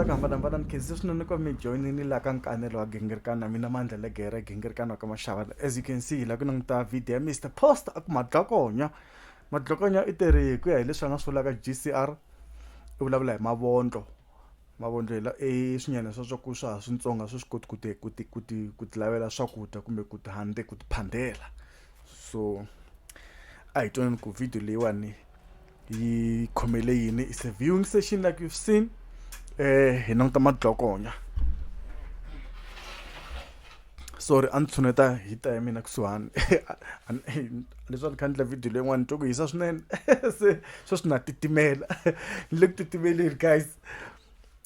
kwambanambananikezisinonekwa mi joinini la ka nkanelo wa gingirikana mina mandla le gere gingirikana wa ka maxava as you can see hi la ku languta video ya mr post a ku madlokonya madlokonya i tirhi hi ku ya hi leswi a nga swi vulaka gcr i vulavula hi mavondlo Mavondlela i swinyana swa swa ku swa ha swintsongo a swi swi koti ku ti ku ti ku ti ku ti lavela swakudya kumbe ku ti handle ku ti phandela so a hi twaneni ku video leyiwani yi khomele yini is a viewing session like you've seen um hi languta madlokonya sorry a ni tshuneta hi ta ya mina kusuhani leswaku ni kha ni endla video leyin'wana twa ku hisa swinene se sweswi na titimela ni le ku titimeleni guys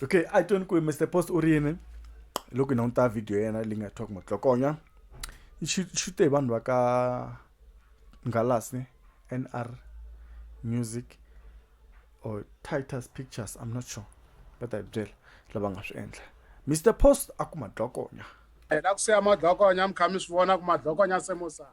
okay a tweni ku mr post u ri yini loko hi languta video ya yena leyi nga thiwa ku matlokonya xi te hi vanhu va ka ngalasi nr music or titus pictures i'm not sure va ta hi byela lava nga swi endla mr post a ku madlokonya ena ku siya madlokonya mi kha mi swi vona ku madlokonya se mo sala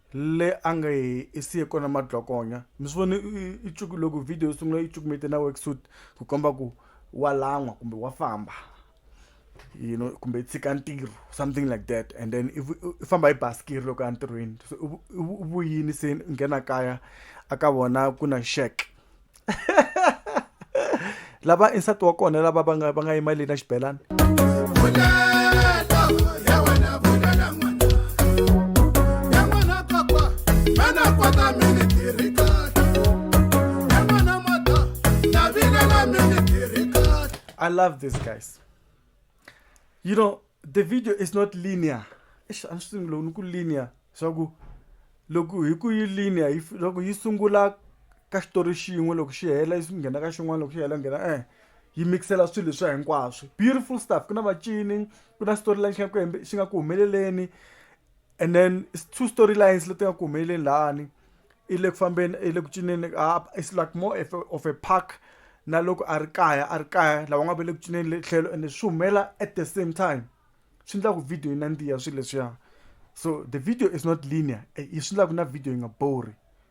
Le a nge hi i siye kona madlokonya. Mi swi vone i i cuku loko video yi sungula i cukumete na work suit ku komba ku wa lan'wa kumbe wa famba you know kumbe i tshika ntirho something like that and then i i famba hi basikiri loko ya ntirhweni se u vuyini se nghena kaya a ka vona ku na shack lava insati wa kona lava va nga va nga yima leni na xibelani I love these guys. You know, the video is not linear eish a ni swi tivi loko ni ku linear leswaku loko hi ku yi linear yi loko yi sungula ka xitori xin'we loko xi hela yi nghena ka xin'wana loko xi hela nghena e yi mix-ela swilo leswiya hinkwaswo beautiful stuff ku na macini ku na storyline xi nga ku xi nga ku humeleleni and then two storylines leti nga ku humeleleni lahani i le ku fambeni i le ku cineni it's like more of a, of a park na loko a ri kaya a ri kaya lava nga va le ku cineni le tlhelo ende swi humela at the same time swi endlaku video yi nandziha swilo leswiya so the video is not linear eh, yi swi endlaku na video yi nga bori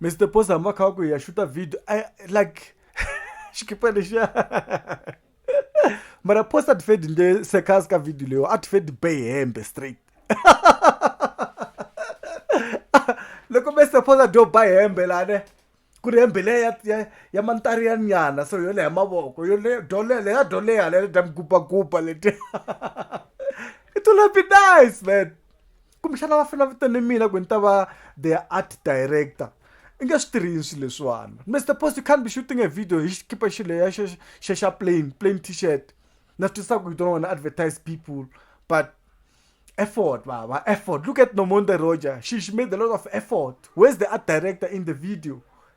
Mister Posa hambi va kha va ku hi ya xuta video a like xikipa lexiya mara Posa tifedi nge sekhasi ka video leyo a tifedi be hembe straight loko Mister Posa dyo ba hembe la ne ku ri hembe leya ya ya mantari ya nyana so yo leha mavoko yo le dole le ya dole ya le dam gupa gupa leti it will be nice man kumbexana va fela vitane mina ku ni ta va their art director i nge swi tirhini swilo leswiwana mr post you can't be shooting a video hi xikipa xileya xa xa plain plain t-shirt na swi twisaka you don't want to advertise people but effort baba effort look at nomonde roger she, she made a lot of effort where's the art director in the video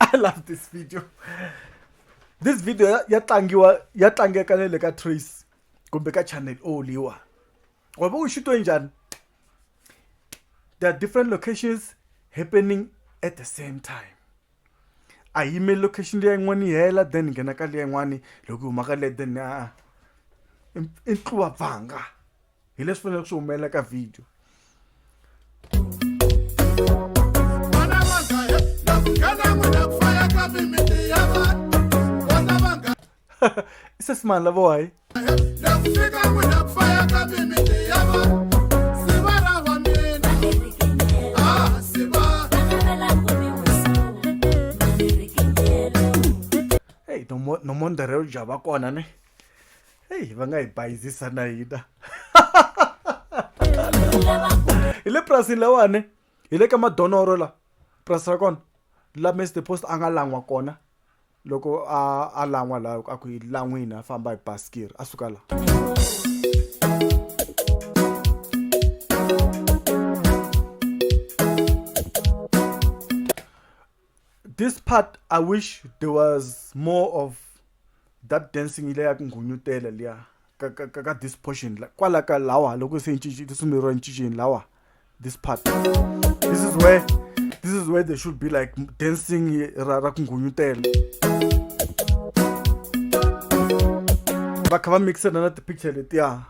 i love this video this video ya ya tlangiwa ya tlangeka na le ka trace kumbe ka channel o liwa wa va u xitwe njhani there are different locations happening at the same time a yimeli location leya yin'wana yi hela then nghena ka leya yin'wana loko yi huma ka leya then a i ntluwa pfanga hi leswi faneleke swi humelela ka video isesimani lavo hayi hey nomondere u java kona ne heyi va nga hi bayizisa na hina hi le purasini lawani hi le ka madonoro la purasi ra kona la mr post a nga lan'wa kona loko a a lan'wa la a ku hi lan'wini a famba hi basikiri a suka la This part I wish there was more of that dancing ile ya ku nghunyutela liya ka, ka, ka, ka this portion kwala ka lawa loko se lisumeriwa encicini lawa this part this is where this is where they should be like dancing ra, ra ku nghunyutela va kha va mixana na tipicture letiya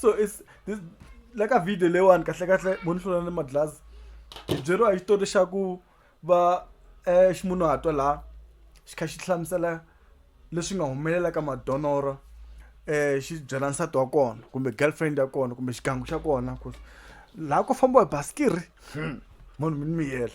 so it's this like a video leyiwani kahle kahle mo ni hlula ni madlazi hi byeriwa hi xitori xa ku va um ximunhuhatwa laha xi kha xi hlamusela leswi nga humelela ka madonoro um xi byela nsati wa kona kumbe girlfriend ya kona kumbe xigangu xa kona laha ku fambiwa hi basikiri Hmm. munhu mi ni miyela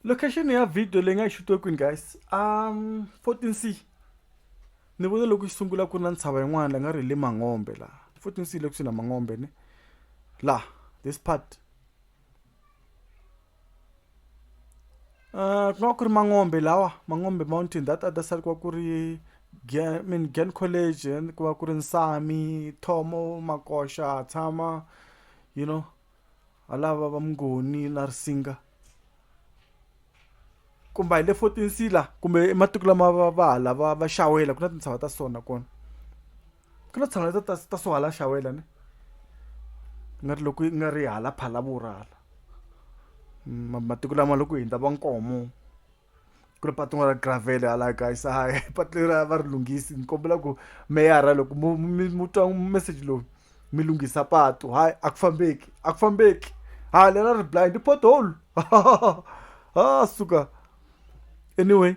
location ya video leyi nga yi xutiwe kwini guys um fourteen c ni vone loko yi sungula ku ri na ntshava yin'wana la nga ri hi le mangombe laha fourteen c le kusuhi na mangombe ni laha this part ku nga ku ri mangombe lawa mangombe mountain that other side ku va ku ri Gen college and ku va ku ri Nsami, Thomo, Makoxa, Tshama you know ha lava va Mngoni na Risinga kumba hi le Fourtensila kumbe i matiku lama va va hala va va Xawela ku na tintshava ta so nakona. ku lo tshama ta ta so hala xawela ne nga ri loko nga ri hala phalavura hala matiko lama loko hindza va nkomo ku ri patu ra gravel hala kaya se hayi patu leri a va ri lunghisi ni kombela ku meyara loko mo mi mu twa meseji lowu mi lunghisa patu hayi a ku fambeki a ku fambeki ha lera ri blind pothole ha suka anyway.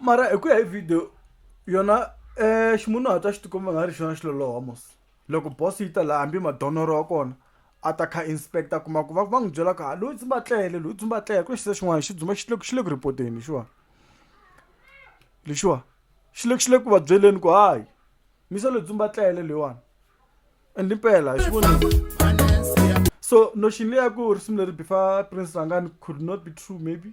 mara hi ku ya hi video yona um ximunhuhatwa xi tikuma nga ri xona xiloloho mos loko boss yi ta laha hambi madonoro wa kona a ta kha inspector kuma ku va va n'wi byela ku ha loyi dzumba tlele loyi dzumba tlele ku ri xisa xin'wana xi dzumba xi le xi le ku ripoteni lexiwa lexiwa xi le xi le ku va byeleni ku hayi misa loyi dzumba tlele leyiwani and impela hi xivona so notion leyi ya ku risimu leri bifa prince rangani could not be true maybe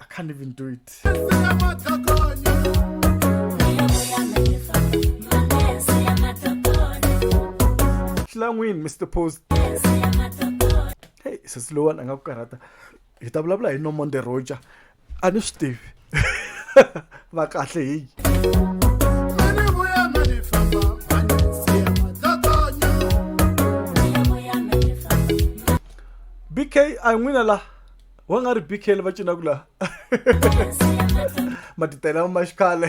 I can't even do it. Hlangwini Mr Post. Hey, sesi lowani a nga ku karhata. Hi ta vulavula hi Nomonde Roger. A ni swi tivi. va kahle hi bk a hi n'wina la wa nga ri bk va cinaku la matitela ma xikhale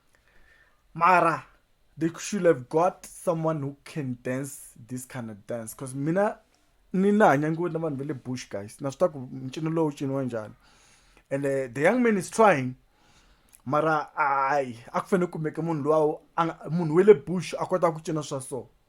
Mara, they should have got someone who can dance this kind of dance. Because mina, ni na hanya ngopfu na vanhu va le bush guys. Na swi tiva ku ncino lowu wu ciniwa njhani. And uh, the young man is trying. Mara, ayi, a ku fanele ku kumeke munhu luwa, a nga- munhu wa le bush a kota ku cina swa so.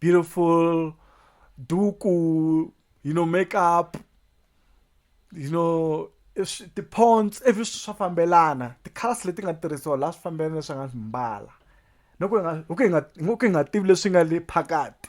beautiful duku you know makeup you know ti-ponts every swi swa fambelana ti-colors leti nga tirhisiwa laha swi fambelana leswi nga swi mbala no ku hi nga hi ku hi nga hi ku hi nga tivi leswi nga le phakati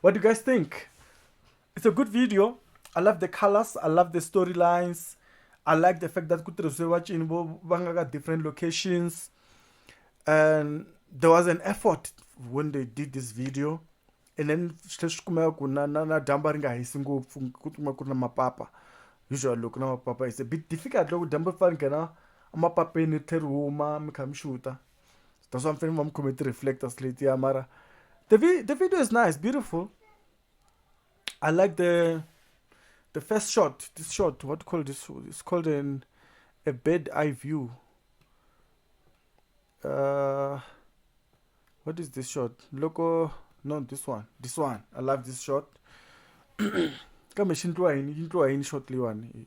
What do you guys think? It's a good video. I love the colors. I love the storylines. I like the fact that kutirhisiwe vacini vo va nga ka different locations and there was an effort when they did this video and then swi swi kumeka ku na na na dyambu ri nga hisi ngopfu ku kuma ku ri na mapapa usually loko na mapapa it's a bit difficult loko dyambu ri fane nghena emapapeni ri tlhe ri huma mi kha mi xuta that's why mfana wami committee reflectors late yeah mara the, vi- the video is nice beautiful i like the the first shot this shot what called this it's called an a bed eye view uh what is this shot loco no this one this one i love this shot kambe xi ndliwa yini yi ndliwa yini shot leyiwani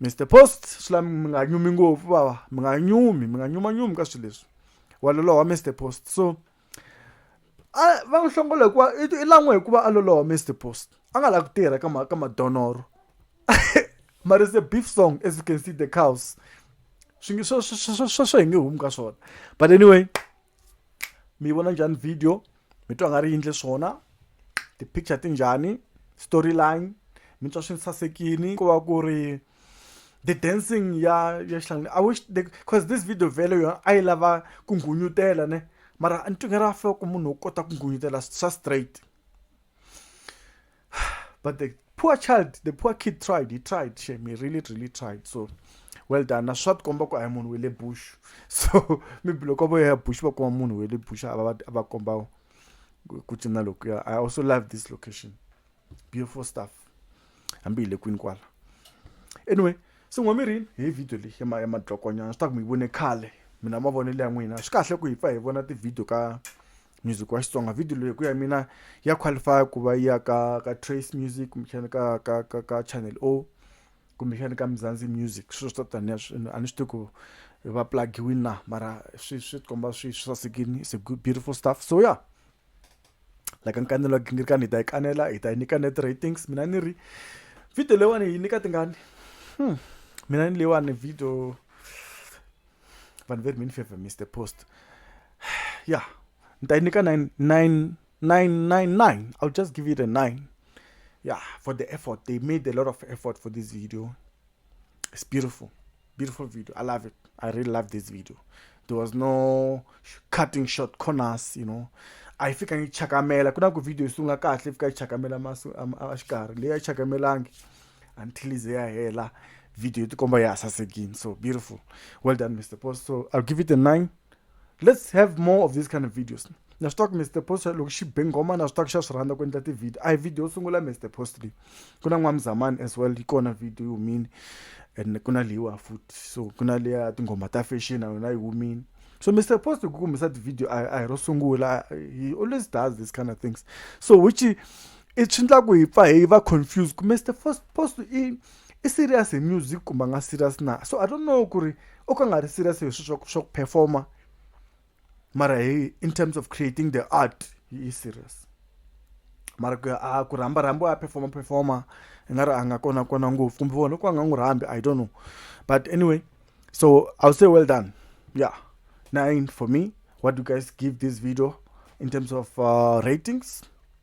Mister Post, swi la mi nga nyumi ngopfu bava, mi nga nyumi, mi nga nyumanyumi ka swilo leswi. Wa loloha Mister Post. So a va n'wi hlongola hikuva i i lan'we hikuva a loloha Mister Post. A nga lavi ku tirha ka ka madonoro. Mara it's a beef song as you can see the cows. Swi nge sweswo hi nge humi ka swona. But anyway. mi yi vona njhani video mi twa nga ri yindle swona ti-picture ti njhani story line mi twa swi ni sasekini ku va ku ri the dancing ya ya xihlangani i wish because this video vhele yona a yi lava ku nghunyutela ne mara ni twi nga ri after ku munhu wo kota ku nghunyutela swa straight but the poor child the poor kid tried he tried shame he really really tried so well done na swa tikomba ku a hi munhu we le bush so maybe loko vo ya bush va kuma munhu we le bush a va a va komba ku cina lokuya i also love this location beautiful stuff hambi hi le kwini kwala anyway so n'wa mirini hi video leyi ya madlokonyana swi ta ku mi yi vone khale mina mavonelo ya n'wina swi kahle ku hi pfa hi vona tivhidiyo ka music wa xitsonga video leyi ku ya mina ya qualify ku va ya ka ka trace music kumbexana ka ka ka ka channel o kumbexana ka mzanzi music swilo swo taniya a ni swi tivi ku va plugiwini na mara swi swi komba swi swi sasekini it's a good beautiful stuff so yeah like nkanelo gingirikani hi ta yi kanela hi ta yi nyika net ratings mina ni ri video leyiwani yi nyika tingani hmm. mina ni leyiwani video vanhu ve ri mi ni favor mr post ya ni ta yi nyika nine nine nine nine nine i'll just give it a nine yeah for the effort they made a lot of effort for this video it's beautiful beautiful video i love it i really love this video there was no cutting short corners you know a yi fika yi chakamela ku na ku video yi sungula kahle yi fika yi chakamela maso a xikarhi leyi a yi chakamelangi until ize yahela video yotikomba ya sasekini so beautiful well done mr post so i'll give it a nine let's have more of these kind of videos na swi tiva mr post loko xi be nghoma na swi tiva xa swi rhandza ku endla tivhidiyo a hi video yo sungula mr post leyi ku na n'wamzamani as well yi kona video yi humile and ku na leyiwa futhi so ku na leya tinghoma ta fashion na yona yi humile so mr post ku kumisa tivhidiyo a hi ro sungula he always does this kind of things so which I swi endlaku hi pfa hi va confused ku Mister Post i i serious hi music kumbe a nga serious na so I don't know ku ri o ka a nga ri serious hi swilo swa swa ku perform-a mara hi in terms of creating the art he is serious mara ku ya a ku rhamba rhamba wa perform-a perform-a i nga ri a nga kona kona ngopfu kumbe vona loko va nga n'wi rhambi I don't know but anyway so I will say well done yeah nine for me what do you guys give this video in terms of uh, ratings